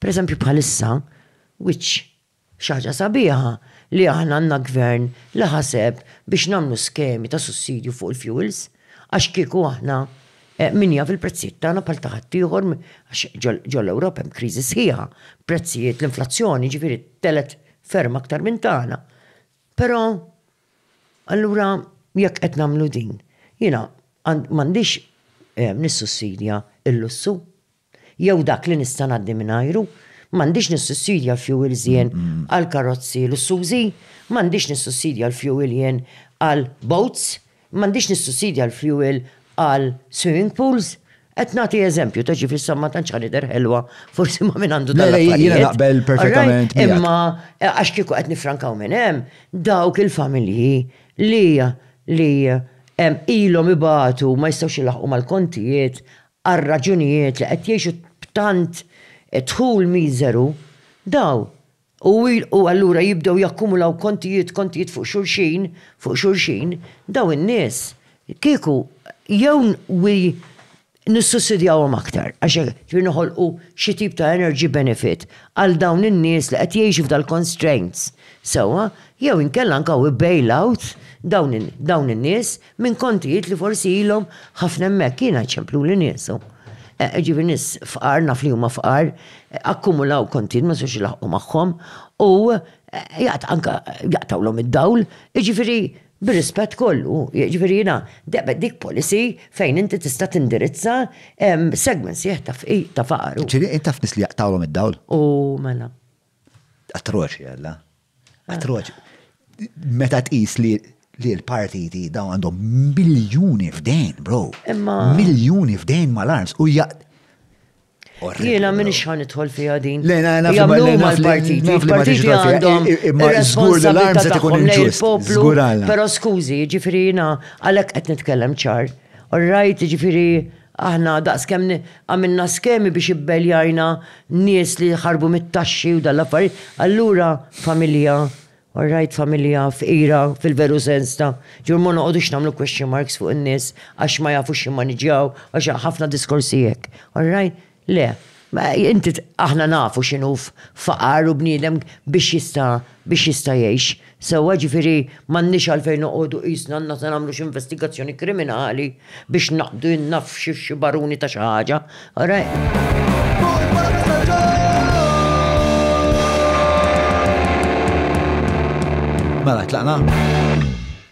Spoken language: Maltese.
Pereżempju bħalissa, which xi ħaġa sabiħa li aħna għandna Gvern li ħaseb biex nagħmlu skemi ta' sussidju fuq il-fuels għax kieku aħna min jaf il-prezzijiet tagħna bħal ta' ħaddieħor għax ġol-Ewropa hemm kriżi sħiħa, prezzijiet l-inflazzjoni jiġifieri telgħet ferm aktar minn tagħna. Però allura jekk qed nagħmlu din, jiena m'għandix nissussidja l-lussu jew dak li nista' ngħaddi mingħajru, m'għandix nissussidja l-fjuwils jien għal karozzi lussużi, m'għandix nissussidja l-fjuwil jien għal boats, m'għandix nissussidja l-fjuwil għal swimming pools. Qed nagħti eżempju ta' ġifieri sa ma tantx ħa nidher ħelwa forsi ma' min għandu dan l-affarijiet. Le, le, jiena naqbel perfettament. Imma għax kieku qed nifrankaw minn hemm, dawk il-familji li li ilhom ibatu ma jistgħux ilaħħqu mal-kontijiet, għar-raġunijiet li qed jgħixu b'tant dħul miżeru, dawn u u allura jibdew jakkumulaw kontijiet, kontijiet fuq xulxin, fuq xulxin, dawn in-nies kieku jew wi nissussidjawhom aktar għax hekk ġifieri noħolqu xi tip ta' energy benefit għal dawn in-nies li qed jgħixu f'dal-constraints sewwa jew inkella anke wi bail out dawn in-nies. Minn kontijiet li forsi ilhom ħafna hemmhekk jiena jċempluli niesu. Eh, ġifieri nies fqar naf li huma fqar, akkumulaw kontijiet ma sewx ilaħqu magħhom u eh, jaqt anka jaqtawlhom id-dawl, ġifieri bir-rispett kollu, ġifieri jiena debet dik policy fejn inti tista' tindirizza segment sieħ ta' faqar. Ġifieri taf nies li jaqtawlhom id-dawl? U mela. Atroċi għalla. Atroċi. Meta tqis li li l-partiti daw għandhom miljuni f'dejn, bro. Imma. Miljuni f'dejn mal-arms u jaq. Jena minn xħan itħol fija din. Le, na, na, jamlu mal-partiti. Il-partiti għandhom. Imma zgur l-arms għet ikun il-ġust. Zgur għalla. Pero skużi, ġifiri jena, għalek għet nitkellem ċar. All right, ġifiri, Aħna daqskemm għamilna skemi biex ibbeljajna nies li ħarbu mit-taxxi u dan l-affarijiet, allura familja, all right, familja fqira fil-veru sens ta', ġifieri ma noqogħdux nagħmlu question marks fuq in-nies għax ma jafux jimmaniġġjaw, għax ħafna diskorsi hekk, all right? Le. Ma inti aħna nafu x'inhu faqar u bniedem biex jista' biex jista' jgħix sewwa ġifieri m'għandniex għalfejn noqogħdu qisna għandna se nagħmlu xi investigazzjoni kriminali biex naqbdu in-nafs xi baruni ta' xi ħaġa. Mela tlaqna?